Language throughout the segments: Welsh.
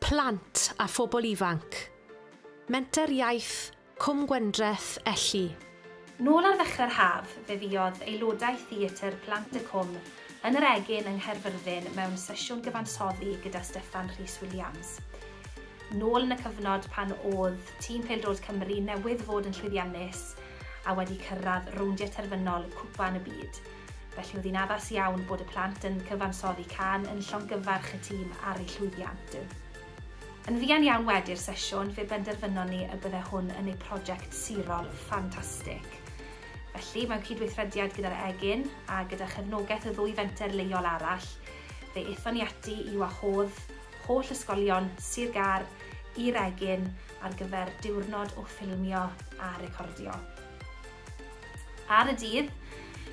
Plant a phobl ifanc. Menter Iaith Cwm Gwendreth, Elli. Nôl ar ddechrau'r haf, fe fuodd aelodau Theatr Plant y Cwm yn yr Egin yng Nghaerfyrddin mewn sesiwn gyfansoddi gyda Steffan Rhys Williams. Nôl yn y cyfnod pan oedd tîm pêl-droed Cymru newydd fod yn llwyddiannus a wedi cyrraedd rowndiau terfynol Cwpan y Byd. Felly oedd hi'n addas iawn bod y plant yn cyfansoddi cân yn llongyfarch y tîm ar eu llwyddiant. Yn fuan iawn wedi'r sesiwn, fe benderfynon ni y bydde hwn yn eu prosiect sirol ffantastig. Felly, mewn cydweithrediad gyda'r Egin a gyda chefnogaeth y ddwy fenter leol arall, fe aethon ni ati i wahodd holl ysgolion Sir Gâr i'r Egin ar gyfer diwrnod o ffilmio a recordio. Ar y dydd,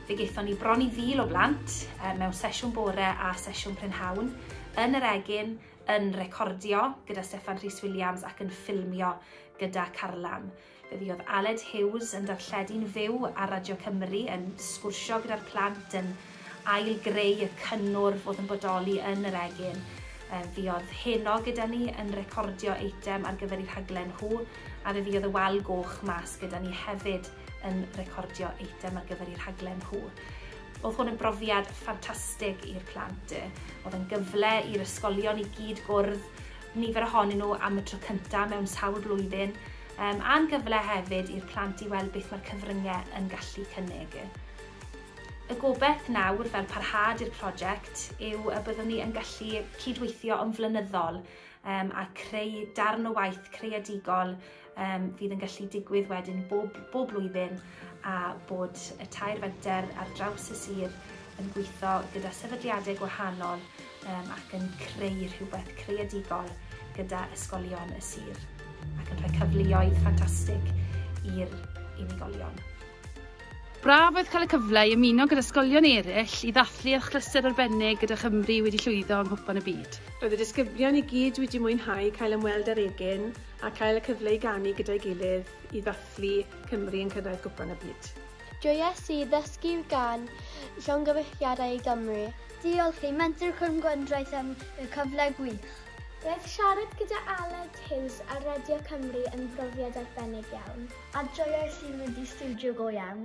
fe gaethon ni bron i fil o blant mewn sesiwn bore a sesiwn prynhawn, yn yr egin, yn recordio gyda Steffan Rhys Williams ac yn ffilmio gyda Carlam. Fe fuodd Aled Hughes yn darlledu'n fyw ar Radio Cymru, yn sgwrsio gyda'r plant, yn ail-greu y cynnwrf oedd yn bodoli yn yr egin. Fuodd heno gyda ni yn recordio eitem ar gyfer eu rhaglen nhw, a fe fuodd y Wal Goch mas gyda ni hefyd yn recordio eitem ar gyfer eu rhaglen nhw. Oedd hwn yn brofiad ffantastig i'r plant. Oedd yn gyfle i'r ysgolion i gyd gwrdd nifer ohonyn nhw am y tro cyntaf mewn sawl blwyddyn, a'n gyfle hefyd i'r plant i weld beth mae'r cyfryngau yn gallu cynnig. Y gobaith nawr, fel parhad i'r prosiect, yw y byddwn ni yn gallu cydweithio yn flynyddol um, a creu darn o waith creadigol um, fydd yn gallu digwydd wedyn bob, bob blwyddyn a bod y tair fenter ar draws y sir yn gweithio gyda sefydliadau gwahanol um, ac yn creu rhywbeth creadigol gyda ysgolion y sir ac yn rhoi cyfleoedd ffantastig i'r unigolion. Braf oedd cael y cyfle i ymuno gyda ysgolion eraill i ddathlu achlysur arbennig gyda Chymru wedi llwyddo yng Nghwpan y Byd. Roedd y disgyblion i gyd wedi mwynhau cael ymweld â'r egin a cael y cyfle i ganu gyda'i gilydd i ddathlu Cymru yn cyrraedd Gwpan y Byd. Joies i ddysgu gan Llongyfarchiadau i Gymru. Diolch i Menter Cwm Gwendraeth am y cyfle gwych. Roedd siarad gyda Aled Hughes ar Radio Cymru yn brofiad arbennig iawn. A joiais i mynd i stiwdio go iawn.